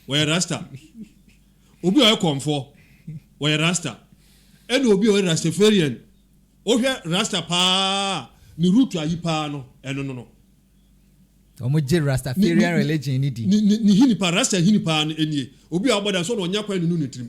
wɔyɛ rasta. Obi a ɔyɛ kɔmfoɔ, wɔyɛ rasta. Ɛna obi a ɔyɛ rastafarian. Wohwɛ rasta paa a, ne root ayi paa no, ɛno no no. Wɔn gye rastafarian religion ni di. Ne hini paa, rasta hini paa no nie. Obi a ɔbɔ da so na ɔnya kwan nunu ne tirim.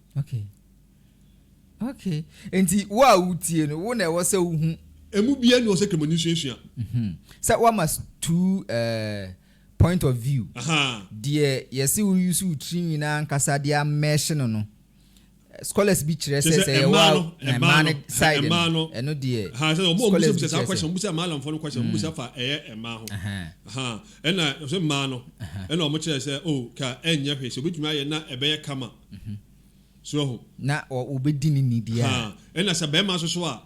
Okay. Okay. Nti wo a wotie no, wo na ɛwɔ sɛ wohu. Emu biara ni wɔ sɛ Kremoni nsuasua. Mhm. Sɛ woama two eh, point of view. Aha. Deɛ yɛse wo use wo tiri nwi no ankasa de amɛɛhye no no, scholars bi kyerɛ sɛ sɛ yɛwɔ a ɛmaa no side no ɛno deɛ scholars bi kyerɛ sɛ mubusa ɛmaa alamfoɔ no question mubusa mm. fa ɛyɛ ɛmaa ho ɛna sɛ mmaa no ɛna wɔn kyerɛ sɛ o oh, ka ɛnyɛ hwee sɛ obetumi ayɛ na ɛbɛyɛ kama So ahu? Na wɔbɛdi no ni biara. Haa. Ɛna sɛ barima nso so a,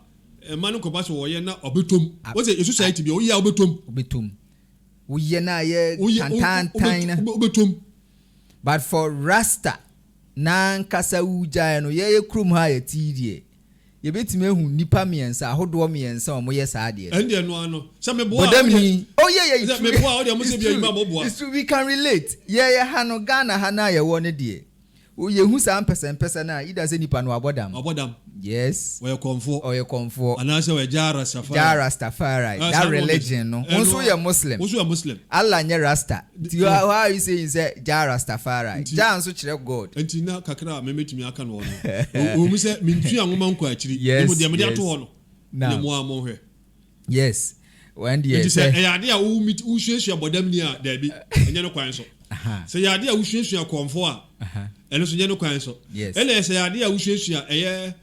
mma no nkɔba sɛ wɔyɛ na ɔbɛtɔ mu. A, Wote, yɛ society a, bi a, woyɛ a wobɛtɔ mu. wobɛtɔ mu. Woyɛ na ayɛ Woyɛ, wo- wo- tantaantan wobɛt- na. wobɛ- wobɛtɔ mu. But for Rasta, n'ankasa wogyae no, yɛyɛ kurom ha a yɛte yi deɛ, Yɛbɛtumi ahu nnipa mmiɛnsa, ahodoɔ mmiɛnsa a wɔyɛ saa adeɛ no. Ɛndeɛ ɛno ara no. Sɛ meboa a, Bɔdam wodeɛ, ni. Oh yeah, yeah, it's sɛ true. meboa a, wodeɛ mo It's sɛ bi true. adwuma a moboa. It's true. We can relate. Yɛ yɛ ha no, Ghana ha no a yɛwɔ no deɛ, wo yɛhu saa mpɛsɛmpɛsɛ no a, either sɛ nipa no wabɔ dam. Wabɔ dam. Yes. Ɔyɛ kɔmfoɔ. Ɔyɛ kɔmfoɔ. Anaasɛ ɔyɛ Jah Rastafari. Jah Rastafari. Ah, saa That na ɔpɛ sɛ- religion no. Wo ɛno nso a, woyɛ Muslim. Wo nso yɛ Muslim. Allah nyɛ Rasta. Nti why are you saying sɛ Jah Rastafari? Nti, Jah nso kyerɛ God. Nti na kakra a mɛmɛtumi aka no hɔ no, ɛwɔ mu sɛ mentua nwoma nkɔ akyiri, na mmom Yes, deɛ mede ato yes. hɔ no na Now, mo ara monhwɛ. yes. Wɔn deɛ Nti sɛ sɛ. ɛyɛ adeɛ a wo meet, wosuasua bɔdamni a, daabi, nyɛ no kwan so. Aha, Sɛ ɛyɛ adeɛ a wosuasua kɔmfoɔ a, aha. ɛno nso nyɛ no kwan so. Yes. Ɛna sɛ ɛyɛ adeɛ a wosuasua ɛyɛ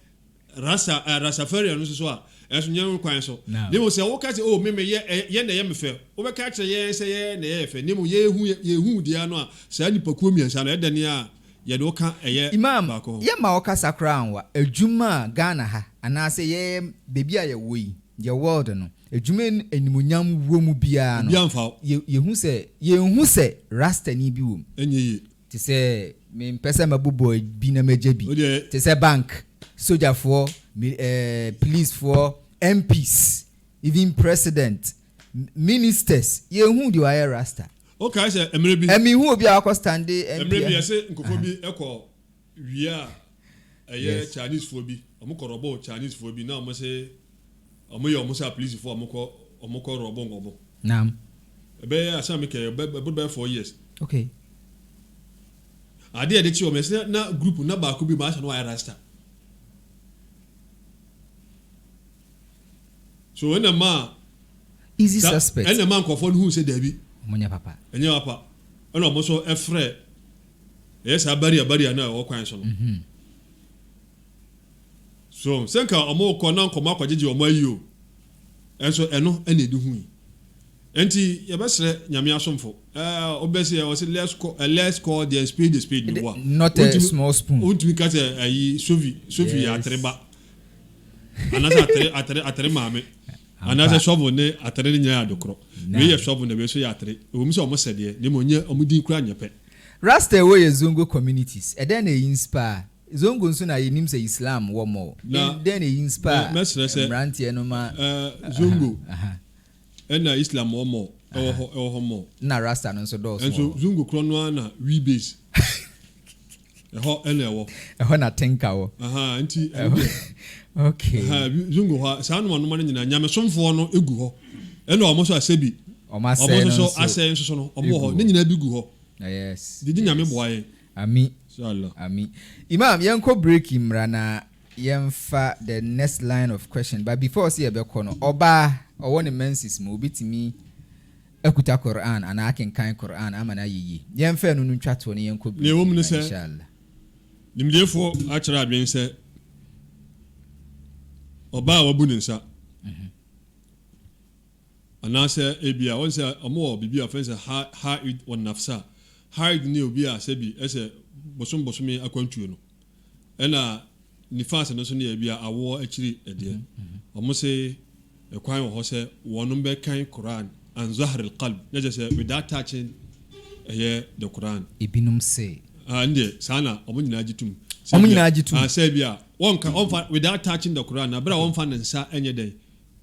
Rasa, eh, Rastafarian no nso so a, ɛnso nyɛ no kwan so. Na mmom sɛ woka sɛ, oh, me me yɛ, eh, yɛn na ɛyɛ me fɛ, wobɛka akyerɛ yɛn sɛ yɛn na ɛyɛ yɛ fɛ, na mmom yɛrehu yɛ, yɛrehu wo deɛ ano a, saa nnipakuo mmiɛnsa no, ɛdɛn a yɛne wo ka ɛyɛ Imam, baako hɔ? yɛmma wo kasa koraa anwa adwuma a Ghana ha, anaasɛ yɛn baabi a yɛwɔ yi, yɛ world no, adwuma a animuonyam wɔ mu biara no, Obiara mfa wo. yɛ, yɛhu sɛ, yɛnhu sɛ Rastani bi wɔ mu. Ɛnyɛ yie. Te sɛ mempɛ sɛ mabobɔ bi na magya bi. Te sɛ bank, sogyafoɔ, policefoɔ, MPs, even president, ministers, yɛnhuu deɛ wayɛ rasta. Wokae sɛ mmerɛ bi. Ɛmenhuu obi a wakɔ stande MP. Mmerɛ bi yɛse nkɔfoɔ bi kɔ wie a. Ɛyɛ Chinese foɔ bi, ɔmo kɔ rɔbo Chinese foɔ bi na ɔmo se ɔmo yɛ ɔmo sɛ apolisi foɔ a ɔmo kɔ ɔmo kɔ rɔbo ɔmo. Naam. Ɛbɛyɛ asem a me kɛɛ ɛbɛ ɛboro bɛyɛ four years. Okay. Adeɛ a yɛde kye ɔmo ɛsɛ na group na baako bi maa sɛ na wayɛ rasta. So ɛna maa. Easy suspect. Ɛna maa nkorɔfoɔ no hu sɛ daabi. Ɔmo nyɛ papa. Ɛnyɛ papa. Ɛna ɔmo nso ɛfrɛ. Ɛyɛ saa barrier barrier no a ɛwɔ kwan so no. So wɔn sɛ nka wɔn rekɔ na nkɔmɔ akɔgyegye wɔn ayi o. Ɛnso ɛno ɛna edi ho yi. Ɛnti yɛbɛsrɛ Nyame asomfo, ɛɛ ɔbɛ sɛ ɔsɛ let's call ɛ let's call the spade the spade no wa. Not a small spoon. Ontumi ka sɛ ɛyi sofi sofi yɛ atere ba. Anasɛ atere atere atere maame. Anaasɛ shovel ne atere no nyinaa yɛ ade koro? Wei yɛ shovel na wei nso yɛ atere. Ɛwom sɛ wɔsɛ deɛ, na mmom nyɛ, wɔn din koraa nyɛ pɛ. Rasta ɛwɔ yɛ Zongo communities, ɛdɛn na ɛyi nspaa? Zongo nso na yɛnim sɛ Islam wɔ mɔ o. Na Ɛdɛn na ɛyi nspaa mɛsrɛ sɛ mmeranteɛ no ma eh, Zongo ɛna Islam wɔ mɔ o, ɛwɔ hɔ, ɛwɔ hɔ mɔ o. Ɛna Rasta no nso dɔɔso wɔ Nanso hɔ. Zongo korɔ no ara na we base. Ɛhɔ na ɛwɔ. Ɛhɔ na Tenka wɔ. Ahaa, nti ɛno deɛ. Ok. Ahaa, ebi nso gu hɔ a, saa anomanoma no nyinaa, nyamesomfoɔ no gu hɔ. Ɛna wɔn nso a sɛbi. Wɔn asɛe no nso. Wɔn nso asɛe nso no, wɔn wɔ hɔ. Ne nyinaa bi gu hɔ. Yes. Gyegye Nyame boa yɛn. Ami. Inshallah. Ami. Imam, yɛnkɔ break mmra na yɛmfa the next line of question. But before sɛ yɛbɛkɔ no, ɔbaa, ɔwɔ ne menses mu, obetumi. Akuta Qur'aan anaa akenkan Qur'aan ama no ayɛ yie. Yɛnfa ɛno no ntwa toɔ na yɛnkɔ Nea ɛwɔ mu briefing ne no sɛ, inshaAllah. nimdeefoɔ akyerɛ adwene sɛ, ɔbaa a wabu ne nsa, anaasɛ ebia wɔn sɛ wɔwɔ biribi a wɔfrɛ no sɛ ha, ha'id wa nafsa, ha'id ne obi a sɛbi ɛsɛ bosom bosome akwantuo no, Ɛna Nifas no so no yɛ bia awoɔ akyiri ɛdeɛ. Wɔn se ɛkwan wɔ hɔ sɛ wɔnom bɛ kan Qur'aan an zahril qalb, na kyerɛ sɛ without touching ɛyɛ the Qur'aan. Ebinom se. Ah, ɛndeɛ saa na wɔn nyinaa gye tum. Wɔn nyinaa gye tum. Ah, sɛ bia wɔnka, wɔnfa without touching the Qur'aan, na bere a wɔnfa ne nsa ɛnyɛ dɛn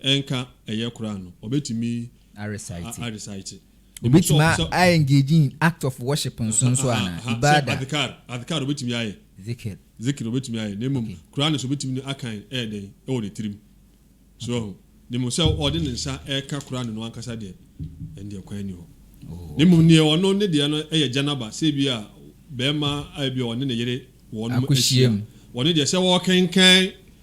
ɛnka ɛyɛ Qur'aan no, wɔbɛtumi. A recite. A recite. Obetumi a engage in act of worship nso nso anaa? Aha, sɛ Ibadah. adhkar, adhkar obetumi ayɛ, Zikr. zikr obetumi ayɛ, na mmom Okay. Qur'aan nso obetumi no akan ɛyɛ dɛn? Ɛwɔ ne tirim. So wahu? Na mmom sɛ ɔde ne nsa ɛreka Qur'aan no ankasa deɛ, ɛndeɛ kwan nni hɔ. Na mmom neɛ ɔno ne deɛ no ɛyɛ janaba, sɛ ebia bɛɛma a ebia ɔne ne yere wɔnom ahyia, Akɔhyiam. ɔno deɛ sɛ ɔrekenkan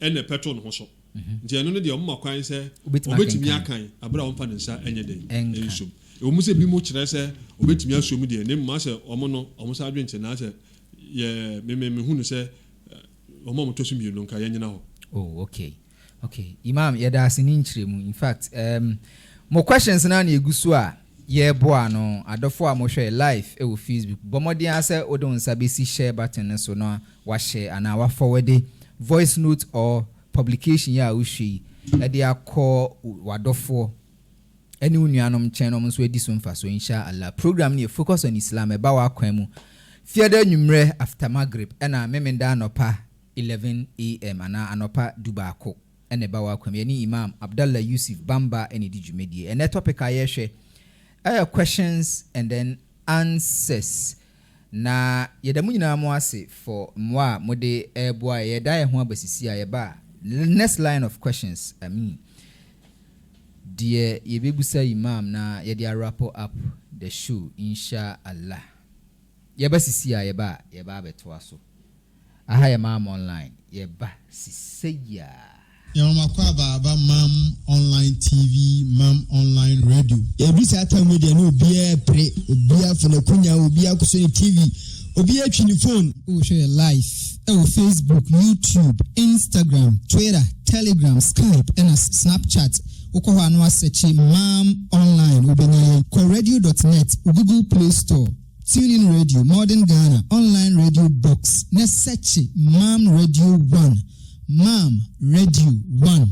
na ɛpɛto ne ho so, nti ɛno no deɛ wɔma kwan sɛ ɔbɛtumi akan berɛ a ɔmfa ne nsa nyɛ dɛn nsom. Ɛwɔ mu sɛ binom kyerɛ sɛ ɔbɛtumi asom deɛ, na mmom asɛ wɔn no wɔn saa adwene te, naasɛ yɛ me me mehu no sɛ wɔn a wɔtɔ so mmienu no nka yɛnyina hɔ. Oh okay okay Imam yɛda ase ne nkyerɛmu in fact um mo questions no a na ɛgu so a Yɛboa no. Adɔfo a mohwɛ live wɔ Facebook, bɔ mmɔden ara sɛ wode wo nsa bɛsi share button no so na woahyɛ anaa woafɔwɛde voice note or publication yi a wohwɛ yi de akɔ w'adɔfoɔ ne wo nuanom nkyɛn na wɔn nso adi so mfasoɔ insha Allah. Program no yɛ Focus on Islam, ɛba w'akwan mu Fiada anwummerɛ after Maghrib ɛna Memeneda anɔpa 11 AM anaa anɔpa dubaako. na ɛba w'akwam. Yɛne Imam Abdallah Yusuf Bamba na ɛdi dwumadie. Ɛnnɛ topic a yɛrehwɛ ɛyɛ questions and then answers. Na yɛda mo nyinaa mo ase for mmoa a mode reboa yɛn. Yɛda yɛn ho aba sisi a yɛba next line of questions, I mean deɛ yɛbɛbusa Imam na yɛde awrap up the show, Insha Allah. Yɛba sisi a yɛba a yɛba abɛtoa so. Aha yɛ Maam Online, yɛreba sisei ara. Yɛn nwoma kɔ aba aba Maam Online TV, Maam Online Radio. Yɛadu saa tam no deɛ na obiara repere, obiara afa n'akonya, obiara akɔsɔ ne TV, obiara atwi ne fon. Wohwɛ yɛn live ɛwɔ Facebook, YouTube, Instagram, Twitter, Telegram, Skype ɛna Snapchat. Wokɔ hɔ a na woasɛkye Maam Online wobɛnya yɛn. Kɔ radio dot net wo Google Play Store. Tune In Radio, Modern Ghana, Online Radio Box, ne sɛkye Mam Radio One, Mam Radio One.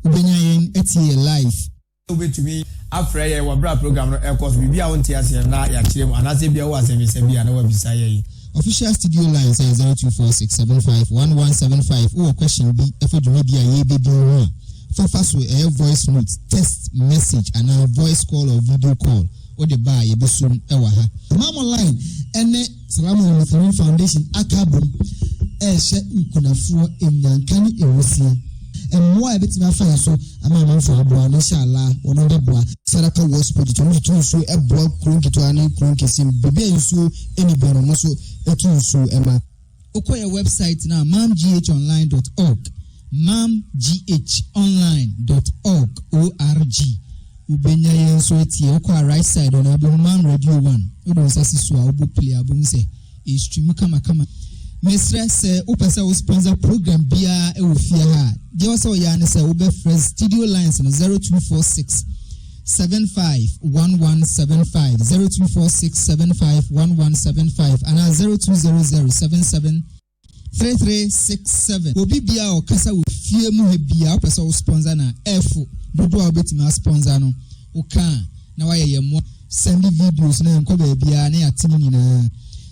Wobɛnya yɛn atie yɛ live. Wobɛtumi afrɛ yɛn wɔ berɛ a program no ɛkɔ so. Biribi a wonte aseɛ no na yɛakyerɛ mu anaasɛ bia wɔ asɛmmisa bi a na wabisa yɛn. Official studio line sɛ 0246751175 wowɔ question bi ɛfa dwumadi a yɛbɛdi mu ho a, fafa so ɛyɛ voice note, text message anaa voice call or video call. wode ba a yɛbɛsom wɔ ha. Mammalife ne Salamola Lutheran Foundation aka abom rehyɛ nkunafoɔ nnyanka ne nwusie. Mmoa a yɛbɛtumi afa yɛ so ama amanfoɔ aboa no, inshallah, wɔn bɛboa. Saraka West Project, wɔn de tu nsuo boa kuro nketewa ne kuro nkɛseɛ mu, baabi a nsuo nni biara no, wɔn nso tu nsuo ma. Wokɔ yɛ wɛbsaet no a, mamghonline dɔt ɔg, mamghonline dɔt ɔg, O-R-G, wobɛnya yɛn nso atie. Wokɔ a right side hɔ no, wobɛhu Mam Radio One. Wode wo nsa si so a, wobɔ play a, wobɛhu sɛ ɛrestream kamakama. Mesrɛ, sɛ wopɛ sɛ wo sponsor program biara wɔ fie ha a, deɛ ɛwɔ sɛ woyɛ ara ne sɛ wobɛfrɛ studio lines no 0246. seven five one one seven five zero two four six seven five one one seven five anaa zero two zero zero seven seven three three six seven obi bia a ɔkasa wɔ fie mu ha bia wopɛ sɛ wo sponsor na ɛfo dodoɔ a wobɛtumi asponsor no woka a na wayɛ yɛ mmoa sɛnde videos na yɛnkɔ baabiaa na yɛate no nyinaa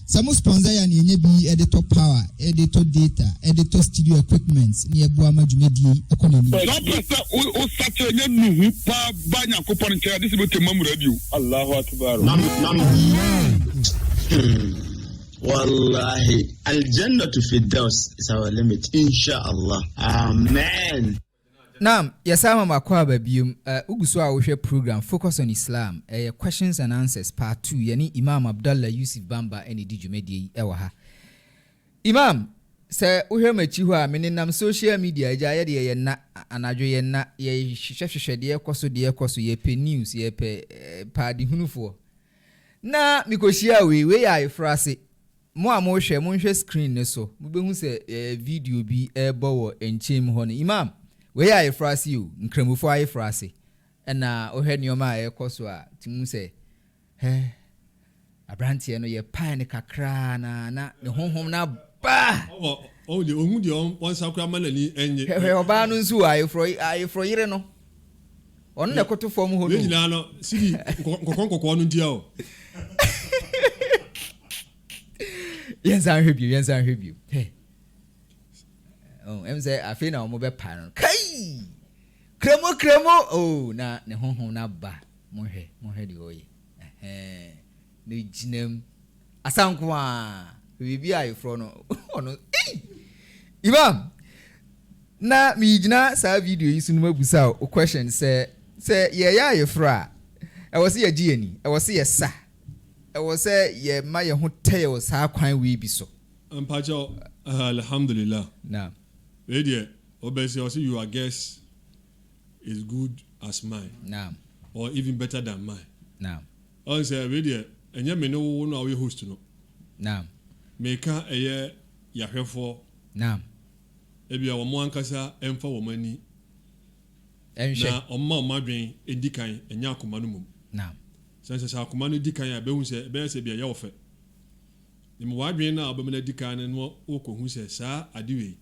Sɛ mo sponsor yɛ a nea enya bi de tɔ power, de tɔ data, de tɔ studio equipment na ɛboa ma dwumadie yi kɔ n'anim. Sɛ wopɛ sɛ wo sakyera nya nnuhu paa ba Nyankopɔn nkyɛn a, gye sɛ wobɛtwa Mamura adi o. Allahu Akbar o. Wallahi Al Jannatu Firdaus is our limit inshallah Amen. Now, yɛsan ama mo akwaaba biom. Eh, wogu so a wohwɛ program Focus on Islam, ɛyɛ Questions and Answers Part Two. Yɛne Imam Abdallah Yusuf Bamba na ɛdi dwumadie yi ɛwɔ ha. Imam, sɛ wohwɛ m'akyi hɔ a, me nenam social media, agya, yɛ deɛ yɛ nna, anadwo yɛ nna, yɛ hwehwɛ hwehwɛ deɛ ɛkɔ so, deɛ ɛkɔ so, yɛ pɛ news, yɛ pɛ eh, paadehunufoɔ. Na me kɔhyiaa wei, wei yɛ ayeforɔ ase, Mo a mohwɛ, monhwɛ screen no so, mobɛhu sɛ yɛyɛ video bi rebɔ wɔ nkyɛn mu hɔ no. Imam, wei yɛ ayefrase yi o, Nkramofo ayefrase. Ɛna wohwɛ nneɛma a ɛrekɔ so a, tumi hu sɛ, hɛ, abranteɛ no yɛpae no kakraa na na ne honhom no aba. Ɔwɔ, ɔwɔ deɛ, ɔhu deɛ ɔn, ɔnsa koraa ma n'ani ɛnye. Hwɛ, hwɛ ɔbaa no nso o, ayeforɔ, ayeforɔ yere no. Ɔno na ɛkoto fam hɔ no. Yɛn nyinaa no sidi nkɔkɔɔ nkɔkɔɔ no ntia o. Yɛn nsa nhwɛ bio, yɛn nsa nhwɛ bio. Oh, ɛmu sɛ afei na wɔn bɛ pa no. Kai! Kremo kremo oh na ne honhom na ba. Mo hwɛ, mo hwɛ deɛ ɔyɛ. Ne gyinam. Asa nko aa biribi a yɛfrɔ no ɔno ei Imam na megyina saa video yi so no mabisa wo question sɛ sɛ yɛyɛ ayeforo a ɛwɔ sɛ yɛgye yɛni ɛwɔ sɛ yɛsa ɛwɔ sɛ yɛma yɛn ho tɛɛ wɔ saa kwan wei bi so. Mpakyɛw ɛhɛ Alhamdulillah Naam. wei deɛ ɔbɛsi ɔsi your guess is good as mine Naam. or even better than mine Naam. Ɔn sɛ wei deɛ ɛnyɛ me ne wo no a woyɛ host no. Naam. Meka ɛyɛ yahwɛfoɔ. Naam. Ebia wɔn ankasa ɛnfa wɔn ani. Ɛnhwɛ. Na wɔn ma wɔn adwen ɛdi kan ɛnyɛ akoma no mmom. Naam. Sɛ nsɛ sɛ akoma no di kan a ɛbɛhu sɛ ɛbɛyɛ sɛ bi ɛyɛ wo fɛ. Nim w'adwen no a wobɛma no adi kan no na wokɔ hu sɛ saa ade wei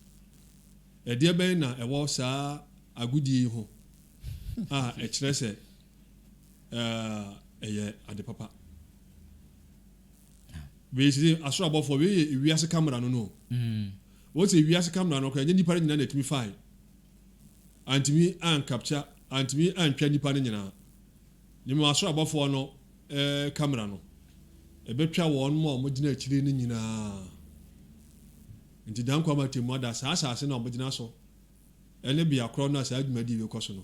ɛdeɛ bɛn na ɛwɔ saa agodie yi ho a ɛkyerɛ sɛ eh, ɛyɛ ade papa wei sɛ asoro abɔfoɔ wei yɛ ewiase kamera no no mm. wɔn sɛ ewiase kamera no koraa nyɛ nipa no nyinaa na ɛtumi fae antumi ankapkya antumi antwa nipa no nyinaa ne mu asoro abɔfoɔ no ɛɛ eh, kamera no ɛbɛtwa wɔn mu a wɔgyina akyire no nyinaa nti dan kwan ma temu ada saa asase no a wɔgyina so ɛne bea korɔ no a saa dwumadi bɛkɔ so no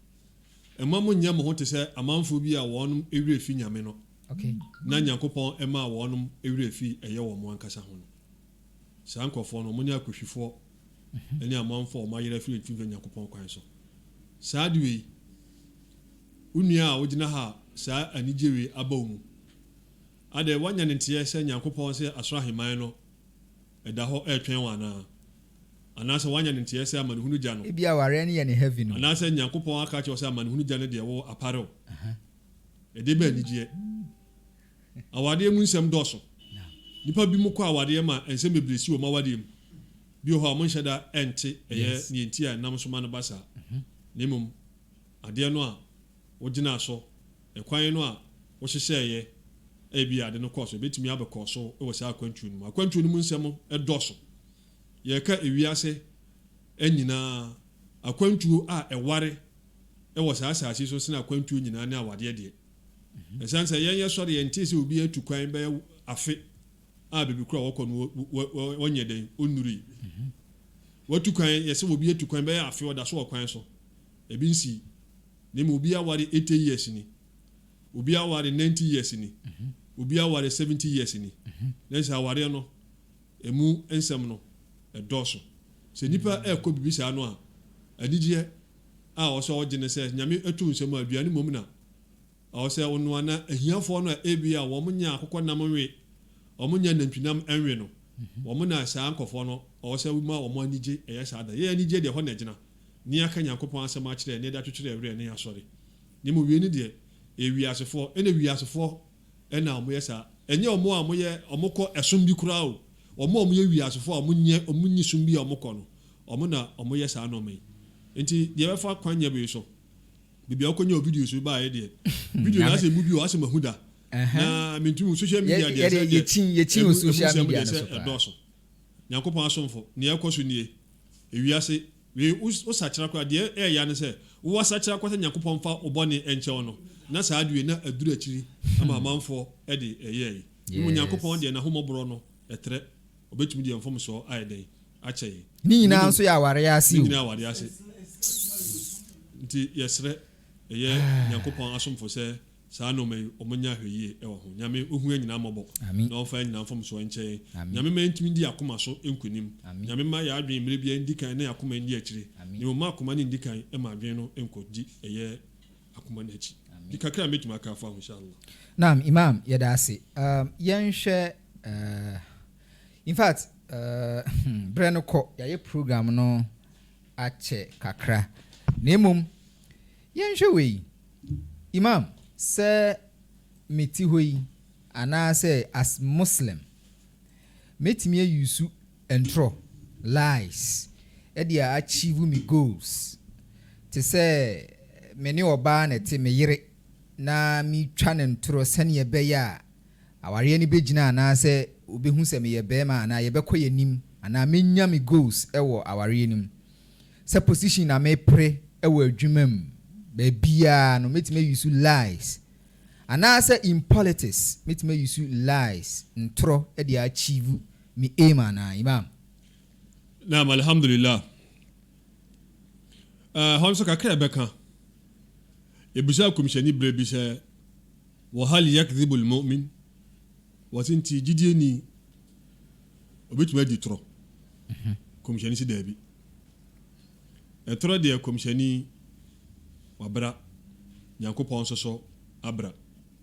Mma monnyɛ mo ho te sɛ amanfoɔ bi a wɔn werɛ fi Nyame no, na Nyankopɔn maa wɔn werɛ fi ɛyɛ wɔn ankasa ho no. Saa nkorɔfoɔ no, wɔne akohwifoɔ ne amanfoɔ a wɔn ayera firi mfimfini Nyankopɔn kwan so. Saa ade wei, wo nua a wogyina ha a saa anigyeɛ wei aba wo mu, adɛn, woanya ne nteɛ sɛ Nyankopɔn se asoro aheman no, ɛda hɔ retwɛn wo anaa? Anaasɛ woanya ne nteɛɛ sɛ amanehunu gya no? Ebia awareɛ no yɛ no heavy no. Anaasɛ Nyankopɔn aka akyerɛ wo sɛ amanehunu gya no deɛ wo apare wo. Ɛdeɛ bɛ anigyeɛ. Awadeɛ mu nsɛm dɔɔso. Nnipa binom kɔ awadeɛ ma nsɛm bebree si wɔn awadeɛ mu. Bi wɔ hɔ a wɔnhyɛ da nte ɛyɛ deɛ nti a ɛnam so ma no ba saa. Na mmom adeɛ no a wogyinaa so, kwan no a wohyehyɛeɛ a ebia ade no kɔɔ so, ɛbɛtumi abɛkɔ so wɔ saa akwantuo no mu. Akwantuo no mu nsɛm dɔɔso. Yɛreka ewiase nyinaa akwantuo a ɛware wɔ saa asase yi so sene akwantuo nyinaa ne awadeɛ deɛ. Ɛsiane sɛ yɛn yɛsɔre yɛntee sɛ obiara atu kwan bɛyɛ afe a baabi koro a wɔkɔ no wɔnyɛ dɛn ɔnnurui. Watu kwan, yɛsɛ obi atu kwan bɛyɛ afe ɔda so wɔ kwan so. Ebi nsii. Na mmom obi aware eighty years ni, obi aware ninety years ni, obi aware seventy years ni. Na kyerɛ sɛ awareɛ no, ɛmu nsɛm no, ɛdɔɔso. Sɛ nnipa rekɔ biribi saa no a, anigyeɛ a ɔsɛ ɔgye ne sɛ Nyame ato nsa mu a aduane mmom na. Ɛwɔ sɛ onoa na ahiafoɔ no a ebia wɔn nya akokɔ nam nwe, wɔn nya nantwi nam nwe no, wɔn na saa nkɔfoɔ no ɛwɔ sɛ wo ma wɔn anigye ɛyɛ saa da. Yɛn anigyeɛ deɛ ɛhɔ na ɛgyina, ne yɛaka Nyankopɔn asɛm akyerɛ ne yɛde atwetwerɛ werɛ ne yɛn asɔre. Na mmom wei no deɛ ɛyɛ wiasefoɔ, ɛna wiasefoɔ na wɔn yɛ saa, ɛnyɛ wɔn a wɔn yɛ wɔn kɔ ɛsom bi koraa o, wɔn a wɔn yɛ wiasefoɔ a wɔn nyɛ wɔn nni som bi a wɔn kɔ no, wɔn na wɔn yɛ saa nnoɔma yi. Nti deɛ ɛbɛfa kwan nyɛ wei so. Baabi a wokɔnya wo videos no baeɛ deɛ, video no asɛ mmu bi wɔ asɛ mahu da. Na mentumi hu social media deɛ sɛ deɛ ɛmu nsɛm deɛ sɛ ɛdɔɔso. Nyankopɔn asomfo, nea ɛkɔ so nie. Ewiase, wei wo sakyera koraa, deɛ ɛɛya ne sɛ wo asakyera koraa sɛ Nyankopɔn mfa wo bɔne ɛnkyɛ wo no, na saa deɛ wei na aduru akyiri ama amanfoɔ de ɛyɛɛe. Mmom Nyankopɔn deɛ N'ahomɔborɔ no ɛtrɛ. Ɔbɛtumi de yɛn mfomsoɔ ayɛ dɛn? Akyɛ yɛn. Ne nyinaa nso yɛ awareɛ ase o. Ne nyinaa awareɛ ase. Nti yɛsrɛ, yɛyɛ Nyankopɔn asomfo sɛ saa nnoɔma yi wɔn nyɛ ahwɛyie wɔ ho. Nyame ɔhu yɛn nyinaa mmɔbɔ na ɔmfa yɛn nyinaa mfomsoɔ nkyɛ yɛn. Nyame ma yɛntumi ndi yɛn akoma so nkonim. Nyame mma yɛn adwene mmerɛ biara nndi kan na yɛn akoma nni akyire. Na mmom mma akoma no nndi kan mma adwene no nkɔ di ɛyɛ. akoma no akyi. Di kakra a mɛtumi aka afa ho insha Allah. Naam Imam yɛda ase. Um, yɛnhwɛ uh, in fact uh, berɛ no kɔ yɛayɛ program no akyɛ kakra na mmom yɛnhwɛ wei Imam sɛ mete hɔ yi anaasɛ as Muslim mɛtumi ayusu Ntorɔ, lies, de a achieve me goals te sɛ me ne ɔbaa na ɛte, me yere, na metwa no ntorɔ sɛdeɛ ɛbɛyɛ a awareɛ no bɛgyina anaasɛ ɔbɛhu sɛ meyɛ barima anaa yɛbɛkɔ yɛn anim anaa mɛnya me goals wɔ awareɛ no mu. Sɛ position na mepere wɔ adwuma mu, baabiara no mɛtumi ayi so lies anaasɛ in politics mɛtumi ayi so lies, ntorɔ, de a achieve Me aim anaa Imam? Naam Alhamdulillah Ɛɛ hɔ nso kakra a yɛbɛka, yɛbisaa Komhyɛni berɛ bi sɛ, Wa hal yakdhibu al-mu'min? Wɔse nti gyidieni ɔbɛtumi adi torɔ? Komhyɛni se daabi. Ɛtorɔ deɛ Komhyɛni wabra, Nyankopɔn nso so abra.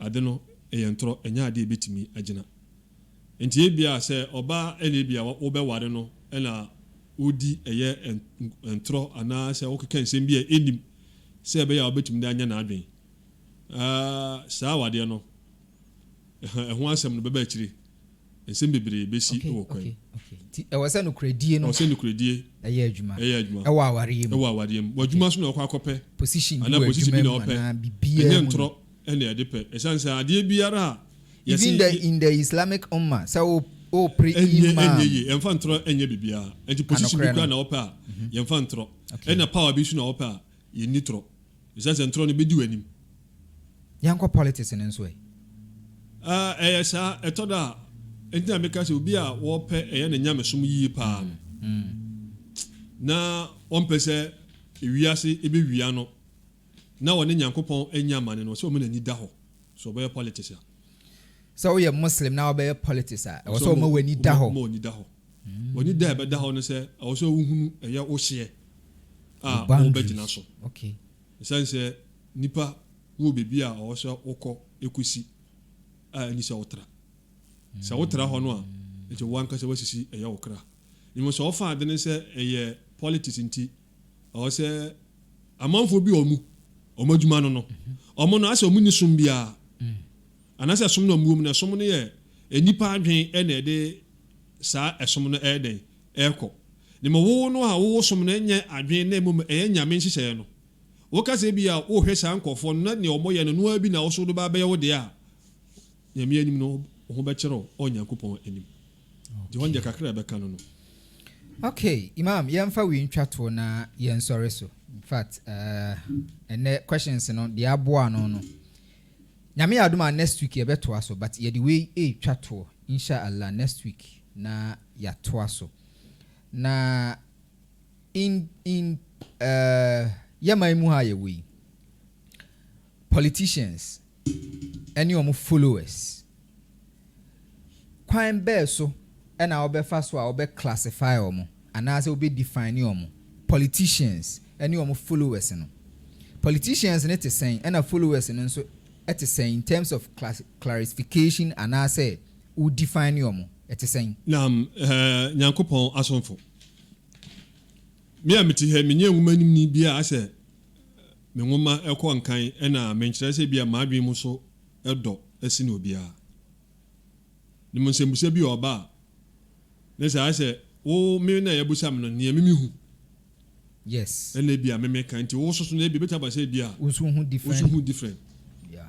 Ade no yɛ ntorɔ, ɛnyɛ adeɛ a ɛbɛtumi agyina. Enti ebia sɛ ɔbaa na ebia wobɛware no na wodi ɛyɛ ntorɔ anaasɛ wokeka nsɛm bi a ɛnnim sɛ ɛbɛyɛ a wobɛtumi de anyɛ n'adwene a, saa awadeɛ no, ɛho asɛm no bɛba akyire. nsɛm bebree besi wɔ kwan. Nti ɛwɔ sɛ nokorɛdie no. Ɛwɔ sɛ nokorɛdie. Ɛyɛ adwuma. Ɛyɛ adwuma. Ɛwɔ awareɛ mu. Ɛwɔ awareɛ mu. Wɔ adwuma so na ɔkɔ akɔpɛ. Position bi wɔ adwuma mu. Anaa position bi na ɔpɛ. Anaa bibiara mu. Ɛnyɛ ntorɔ ɛna ɛde pɛ. Ɛsan sɛ adeɛ biara a. Even the in the Islamic Ummah sɛ wo wo pre imam. Ɛnyɛ ɛnyɛ yie. Ɛnfa ntorɔ ɛnyɛ bibiara. Ɛnti position bi kura na ɔpɛ a. Yɛnfa ntorɔ. Ɛna power bi so na ɔpɛ a. Yɛnni torɔ. Esiane sɛ ntorɔ no bedi w'anim. Yɛnkɔ politics no nso ɛ? Ah, ɛyɛ saa, ɛtɔ da a. Enti na meka sɛ obi a ɔpɛ ɛyɛ ne nyamesom yiye paa no, na ɔmpɛ sɛ wiase ebewia no na ɔne Nyankopɔn anya amane no, ɔsɛ ɔma n'ani da hɔ sɛ ɔbɛyɛ politics a. Sɛ woyɛ Muslim na wobɛyɛ politics a, ɛwɔ sɛ ɔma w'ani da hɔ. W'ani da a ɛbɛda hɔ ne sɛ ɛwɔ sɛ wohunu ɛyɛ wo hyeɛ a wobɛgyina so. Ɛsiane sɛ nnipa wɔ baabi a ɛwɔ sɛ wokɔ kɔsi a ɛnni sɛ wotra. Sɛ wotra hɔ no a, ɛkyɛ wo ankasa woasisi ɛyɛ wo kra. Mmom sɛ wofa adwene sɛ ɛyɛ politics nti ɛwɔ sɛ amanfoɔ bi a wɔn adwuma no no, wɔn no asɛ wɔn nni som biara. Anaasɛ som no a mowɔ mu no, ɛsom no yɛ nnipa adwene na ɛde saa ɛsom no ɛyɛ dɛn? Ɛkɔ? Ne ma wo no a wowɔ som no nyɛ adwene na mmom ɛyɛ Nyame nhyehyɛeɛ no. Woka sɛ ebia wohwɛ saa nkorɔfoɔ no na deɛ wɔyɛ no ɛno ara bi na wo nso wode ba abɛyɛ wo deɛ a, Nyame anim no wo ho bɛkyerɛ wo wɔ Nyankopɔn anim. Nti hɔ no deɛ kakra a ɛbɛka no no. Okay Imam yɛmfa wei ntwa toɔ na yɛnsɔre so. Infact ɛnɛ questions no deɛ aboa ano no Nyame yɛ adom a next week yɛbɛtoa so but yɛde wei retwa toɔ inshallah next week na yɛatoa so na in in uh, yɛ man mu ha a yɛwɔ yi politicians ɛne wɔn followers Kwan bɛɛ so na wɔbɛfa so a wɔbɛ classify wɔn anaasɛ wɔbɛ define wɔn politicians ne wɔn followers no? Politicians no te sɛn ɛna followers no nso te sɛn in terms of clarification anaasɛ wo define wɔn ɛte sɛn? Naam, Nyankopɔn asomfo. Me a mete ha yi, menyɛ nwoma animni bi a asɛ me nwoma kɔ nkan na menkyerɛ sɛ ebia m'adwene mu so dɔ sen obiara. Nim nsɛmbusa bi a ɔba a ne saa ayɛ sɛ wo me na yɛbusa me no nea me me hu yes ɛna ebia me me ka nti wo soso no ebia ebetumi aba sɛ ebia wo nso hu different wo nso hu different yeah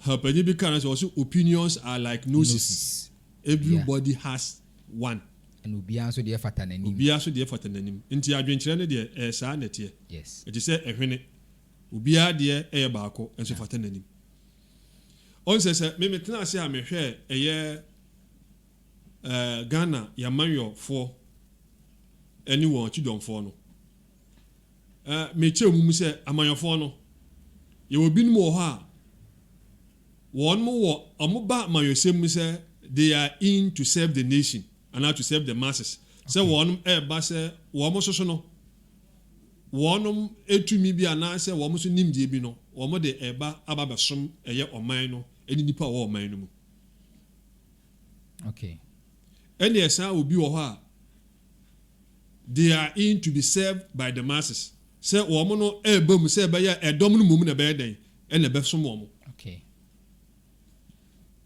ha panyin bi ka na sɛ ɔsɛ opinions are like noses, noses. everybody yeah. has one ɛna obiara nso deɛ fata n'anim obiara nso deɛ fata n'anim nti adwenkyerɛ no deɛ ɛyɛ saa na ɛteɛ yes ɛte sɛ ɛhwene Obiara deɛ yɛ baako nso fata n'anim. Ɔn sɛ sɛ me metena ase a mehwɛ ɛyɛ eh, Ghana y'amanyɔ foɔ ɛne wɔn kyidɔm foɔ no eh, me kyɛ wɔn mu sɛ amanyɔ foɔ no yɛwɔ binom wɔ hɔ a wɔn mo wɔ wɔn ba amanyɔsɛm mu sɛ they are in to serve the nation anaa to serve the masses sɛ wɔn ɛɛba sɛ wɔn soso no wɔnom tumi bi anaasɛ wɔn nso nimdeɛ bi no, wɔn de ɛba aba abɛsom ɛyɛ ɔman no ne nnipa a wɔwɔ ɔman no mu. Okay. Ɛne ɛsan wɔ bi wɔ hɔ a, they are in to be served by the masses. Sɛ wɔn no ɛreba mu sɛ ɛbɛyɛ a ɛdɔm no mmom na ɛbɛyɛ dɛn? Ɛna ɛbɛsom wɔn. Okay.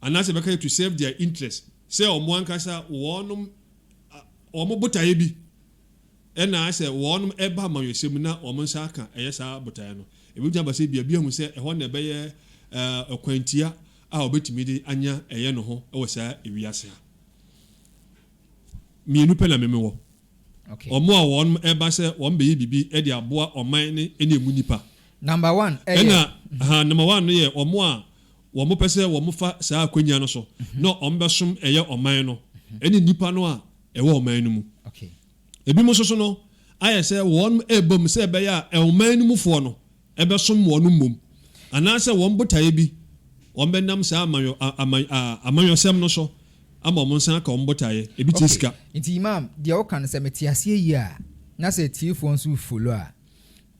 Anaasɛ ɛbɛka yɛ to serve their interest. Sɛ wɔn ankasa wɔnom wɔn botaeɛ bi. Ɛna sɛ wɔn ba amanyɔsɛm mu na wɔn nsa aka ɛyɛ saa botaeɛ no, ɛbɛtumi aba sɛ bia biahu sɛ ɛhɔ na ɛbɛyɛ ɔkwantia a wɔbɛtumi de anya ɛyɛ no ho wɔ saa ewiase ha. Mmienu pɛ na me mewɔ. Wɔn a wɔn ba sɛ wɔn bɛyɛ biribi de aboa ɔman no ne ɛmu nnipa. Number one ɛyɛ. Ɛna ha number one no yɛ wɔn a wɔn pɛ sɛ wɔn fa saa akwanya no so na wɔn bɛsom ɛyɛ ɔman no ne nnipa no a ɛwɔ ɔman no mu. Ebinom nso so no, ayɛ sɛ wɔrebom sɛ ɛbɛyɛ a ɔman no mufoɔ no bɛsom wɔn mmom, anaasɛ wɔn botaeɛ bi, wɔbɛnam saa amanyɔsɛm no so ama wɔn nsa aka wɔn botaeɛ, ebi te sika. Nti Imam, deɛ woka no sɛ mete aseɛ yie a, na sɛ atiefoɔ nso refolo a,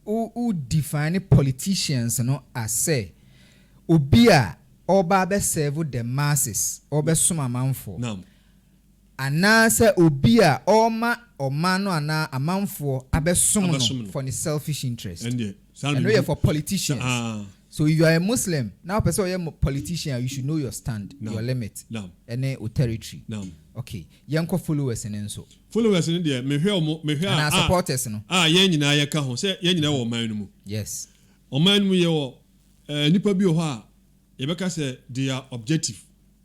wo wo define politicians no as sɛ obi a ɔreba abɛserve the masses, ɔrebɛsom amanfoɔ. Naam. Anaasɛ obi a ɔrema ɔman no anaa amanfoɔ abɛsom no for ne selfish interest. Ɛno yɛ for politicians. So if you are a Muslim na wopɛ sɛ woyɛ politician a you should know your stand, your limit ne wo territory. Ok, yɛnkɔ followers no nso. Followers no deɛ mehwɛ wɔn, mehwɛ a, Anaa supporters no. a yɛn nyinaa yɛka ho sɛ yɛn nyinaa wɔ ɔman no mu. Yes. Ɔman no mu yɛwɔ eh, nnipa bi wɔ hɔ a yɛbɛka sɛ they are objective.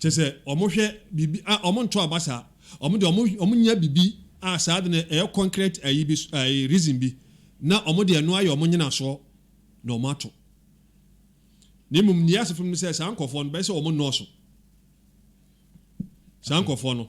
Kyerɛ sɛ, wɔhwɛ biribi a wɔntoo aba saa. Wɔn deɛ wɔn wɔnya biribi a saa ade no ɛyɛ concrete ayi bi so ayi reason bi na wɔn de ɛno ayɛ wɔn nyinasoɔ na wɔn ato. Na mmom nea ɛyɛ asefo no ne sɛ saa nkorɔfoɔ no bɛyɛ sɛ wɔn nnɔɔso. Saa nkorɔfoɔ no.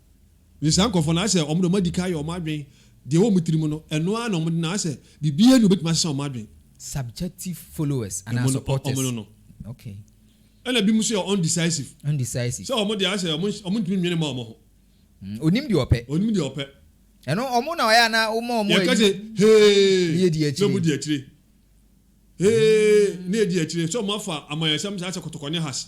Ntsi saa nkorɔfo no, asɛ wɔdze wɔadikan ayɛ wɔn adwen dza ɔwɔ wɔn tsirmu no, ɛno ara na wɔdze no, asɛ biribiara nnyi hɔ a obetumi asesa wɔn adwen. Subjective followers anaa supporters. Wɔn no no. Okay. Ɛna binom so yɛ undecisive. Undecisive. Sɛ wɔn deɛ, asɛ wɔn ntumi nnwene mma wɔn ho. Mm, onim deɛ ɔpɛ. Onim deɛ ɔpɛ. Ɛno wɔn na ɔyɛ anaa wɔn a wɔn ayi. Yɛka sɛ hee. Ne edi akyire. Na wɔn di akyire. Hee, ne edi akyire. Sɛ wɔn afa amanyɔsɛm saa sɛ kɔtɔkɔ ne has.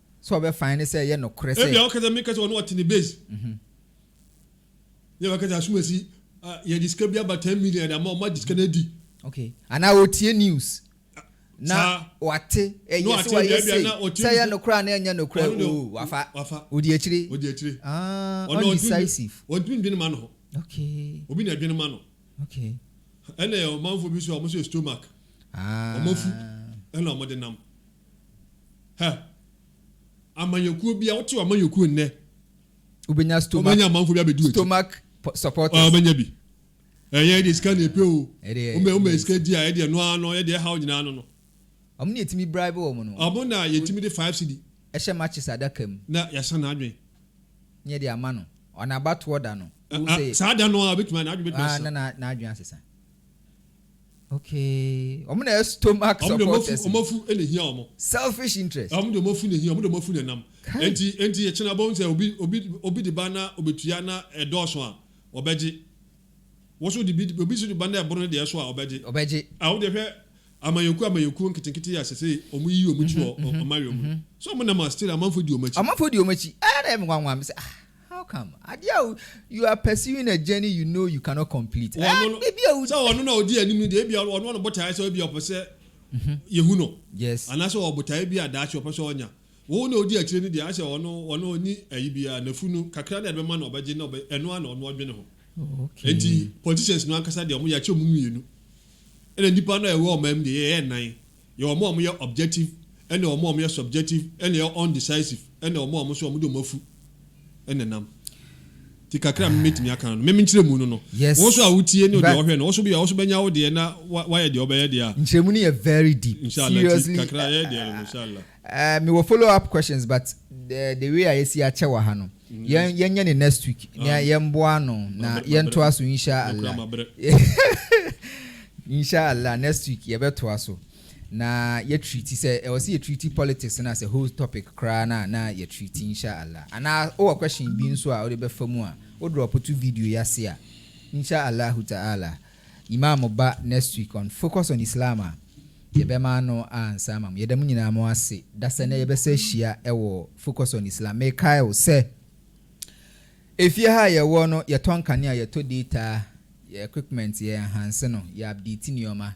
Sɛ ɔbɛfae ne sɛ ɛyɛ nokorɛ sɛ. Ebia ɔkasa mi kasa ɔno ɔte ne base. Yɛ wakasa asumasi a yɛde sika bi aba ten million yɛde ama ɔmo agye sika no adi. Okay anaa ɔretie news na wate ɛyɛ sɛ wayɛ sei sɛ ɛyɛ nokorɛ anaa ɛnyɛ nokorɛ oo wafa ɔdi akyire ah undecisive. Ɔntumi ndwene ma no ho. Okay. Obi na ɛdwene ma no. Okay. Ɛna ɔmanfoɔ bi nso a ɔmo nso yɛ stomach ɔmo afu ɛna ɔmo de nam. Hɛ, amanyɔkuo bia, wote w'amanyɔkuo nnɛ, wobɛnya stomach, wobɛnya amanfoɔ bi abɛdi w'akyi. Stomach supporters. Ah, wobɛnya bi. Ɛyɛ ɛdeɛ sika na ɛpɛ o. Ɛdeɛ, Woma woma sika di a, ɛdeɛ no ara no, ɛdeɛ ɛhaw nyinaa no no. Ɔmo na yɛtumi bribe wɔn no. Ɔmo na yɛtumi de five cedi. Ɛhyɛ matches adaka mu. Na yɛasa n'adwene. Na yɛde ama no. Ɔna abatoɔ da no. Ah, ah, saa da no a, obɛtumi, n'adwene bɛtumi asesa. Ah, na n'adwene asesa. Okay, wɔn na ɛyɛ stomach Wɔn deɛ wɔn afu, supporters wɔn no. afu na ehia wɔn. Selfish interest. Wɔn deɛ wɔn afu na ehia wɔn, wɔn deɛ wɔn afu na ɛnam. Kai. Enti, enti ekyena abom sɛ obi, obi, obi de ba na obetua na ɛdɔɔso a, ɔbɛgye. Wo nso de bi, obi nso de ba na ɛboro ne deɛ so a, ɔbɛgye. Ɔbɛgye. Ah, wo deɛ hwɛ amanyɔkuo, amanyɔkuo nketenkete a sesei wɔn yiyi wɔn akyi wɔ ɔ, ɔmanwea mu no. So wɔn nam a still amanfoɔ di wɔn akyi? Amanfoɔ di wɔn akyi. Ɛyɛ na ɛyɛ me nwanwa, me sɛ ah. How come? Adeɛ a you are pursuing a journey you know you cannot complete. Ɔno no, Biribi a sɛ ɔno na ɔdi anim no deɛ, ebi ɔno ɔno botaeɛ sɛ ebi ɔpɛ sɛ yɛhu no. Yes. Anaasɛ ɔwɔ botaeɛ bi a daakye ɔpɛ sɛ ɔnya. Wo na ɔdi akyire no deɛ, ayɛ sɛ ɔno ɔno ɔnni ayi biara, n'afunu kakra no a ɛde bɛma no ɔbɛgye na ɔbɛ ɛno ara na ɔno ɔdwene ho. Okay. Enti politicians no ankasa deɛ wɔn yɛ akyɛ wɔn mmienu. Ɛna nnipa no a ɛwɔ ɔman mu deɛ yɛyɛ nnan. Yɛwɔ wɔn a wɔyɛ objective ne wɔn a wɔyɛ subjective na yɛwɔ undecisive ne wɔn a wɔn nso wɔde wɔn afu na ɛnam. Nti kakra a me mɛtumi aka no, me me nkyerɛ mu no no, Yes. wo nso a wotie ne deɛ Ba- ɔhwɛ no, wo nso bi a wo nso bɛnya wo deɛ na wa- wayɛ deɛ ɔbɛyɛ deɛ a, nkyerɛmu no yɛ very deep inshallah nti seriously kakra yɛ deɛ no no, inshallah. eh, mewɔ follow up questions but eh, the way a yɛsi akyɛ wɔ ha no Yɛn yɛnyɛ no next week na yɛmboa ano na yɛntoa so insha Allah insha Allah next week yɛbɛtoa so na yɛ treat sɛ ɛwɔ sɛ yɛ treat politics na sɛ whole topic koraa na na yɛ treat insha Allah anaa wowɔ question bi nso a wode bɛfa mu a wo drop to video yi ase a insha Allah ta'ala Imam ba next week on focus on Islam a yɛbɛma ano ansa ama mo. Yɛda mo nyinaa mo ase dasɛ nɛ yɛbɛsa ahyia wɔ focus on Islam. Mekae wo sɛ efie ha a yɛwɔ no yɛtɔ nkanea, yɛtɔ data, yɛ equipment, yɛ enhance no, yɛ update nneɛma.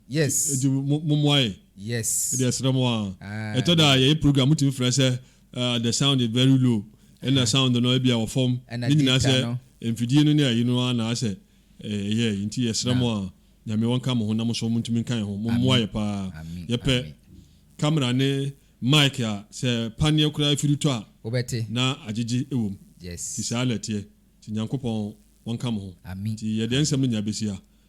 Yes. Nti mo mo moa yɛ. Yes. Ɛdi ɛsrɛ mo aa. Ah, Ɛtɔ da a yɛyɛ program mo tumi frɛ sɛ uh, the sound is very low. Ɛna sound no ebi a wɔ fam. Ne nyinaa sɛ mfidie no ne ayi no ara na asɛ ɛyɛ yi. Nti yɛsrɛ mo aa nyame wɔn ka mo ho na mo nso mo ntumi nka yɛn ho. Mo moa yɛ paa. Yɛpɛ camera ne mic a sɛ paneɛ koraa afiri tɔ a. Wobɛte. Na agyegye ɛwɔ mu. Yes. Nti saa na ɛteɛ. Nti Nyankopɔn wɔn ka mo ho. Amen. Nti yɛdeɛ nsɛm no nyinaa bɛsi ha.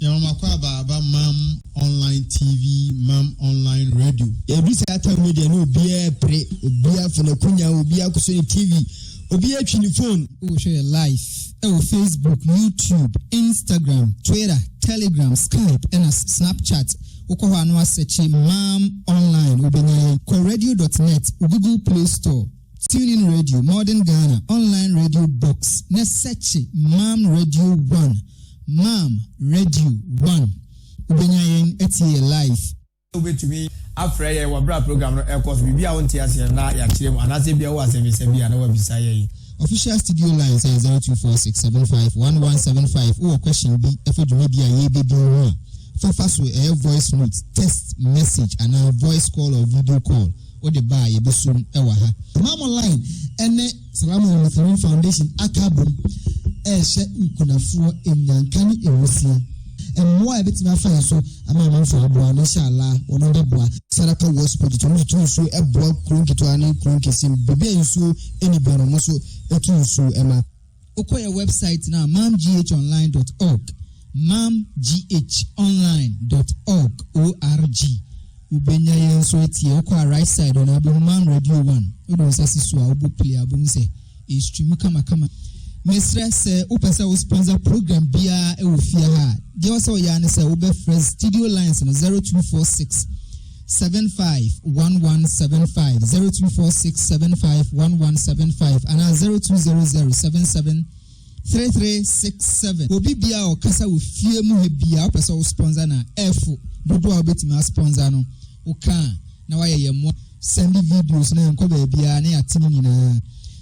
Nyawomakɔ aba aba mam online TV mam online radio. Edu sɛ atam no deɛ na obiara pere, obiara fo n'akunya, obiara koso ne TV, obiara twi ne phone. Wohwɛ yɛ live ɛwɔ Facebook, YouTube, Instagram, Twitter, Telegram, Skype ɛna Snapchat. Wokɔ hɔ a na wasɛkye mam online wobɛnya yɛn. Kɔ radio dot net, Google Play Store. TuneIn Radio, Modern Ghana, Online Radio Box, ne sɛkye Mam Radio One, Mam Radio One. Wobɛnya yɛn atie yɛ live. Wobɛtumi afrɛ yɛn wɔ berɛ a program no ɛkɔ so. Biribi a wonte aseɛ na yɛakyerɛ mu anaasɛ ebia wɔ asɛmmisa bi a na wabisa yɛn. Official studio lines yɛ 0246751175. Wowɔ question bi ɛfa dwumadi a yɛrebɛdi ho a, fafa so ɛyɛ voice note, text message anaa voice call or video call. wode ba a yɛbɛsom wɔ ha. Tamale Online ne Salaman Lutheran Foundation aka abom rehyɛ nkunafoɔ nnyanka ne nwusia. Mmoa a yɛbɛtumi afa yɛ so ama amanfoɔ aboa no, insha Allah, wɔnom bɛboa. Saraka West Project, wɔnom de tu nsuo boa kuro nketewa ne kuro nkese, baabi a nsuo nni biara no, wɔnom nso tu nsuo ma. Wokɔ yɛn wɛbsaet no a, mamghonline dɔt ɔg, mamghonline dɔt ɔg, O-R-G, wobɛnya yɛn nso atie. Wokɔ a right side hɔ no a, wobɛhu Mam Radio One. Wode wo nsa si so a, wobɔ play a, wobɛhu sɛ ɛrestrimu kamakama. Mesrɛ, sɛ wopɛ sɛ wo sponsor program biara wɔ fie ha a, deɛ ɛwɔ sɛ woyɛ ara ne sɛ wobɛfrɛ studio lines no 0246. seven five one one seven five zero two four six seven five one one seven five anaa zero two zero zero seven seven three three six seven. Obi bia a ɔkasa wɔ fie mu ha bia wopɛ sɛ wo sponsor na ɛfo dodoɔ a wobɛtumi a sponsor no woka a na wayɛ yɛn mmoa. Sɛnde videos no yɛnkɔ baabiara na yɛate ne nyinaa.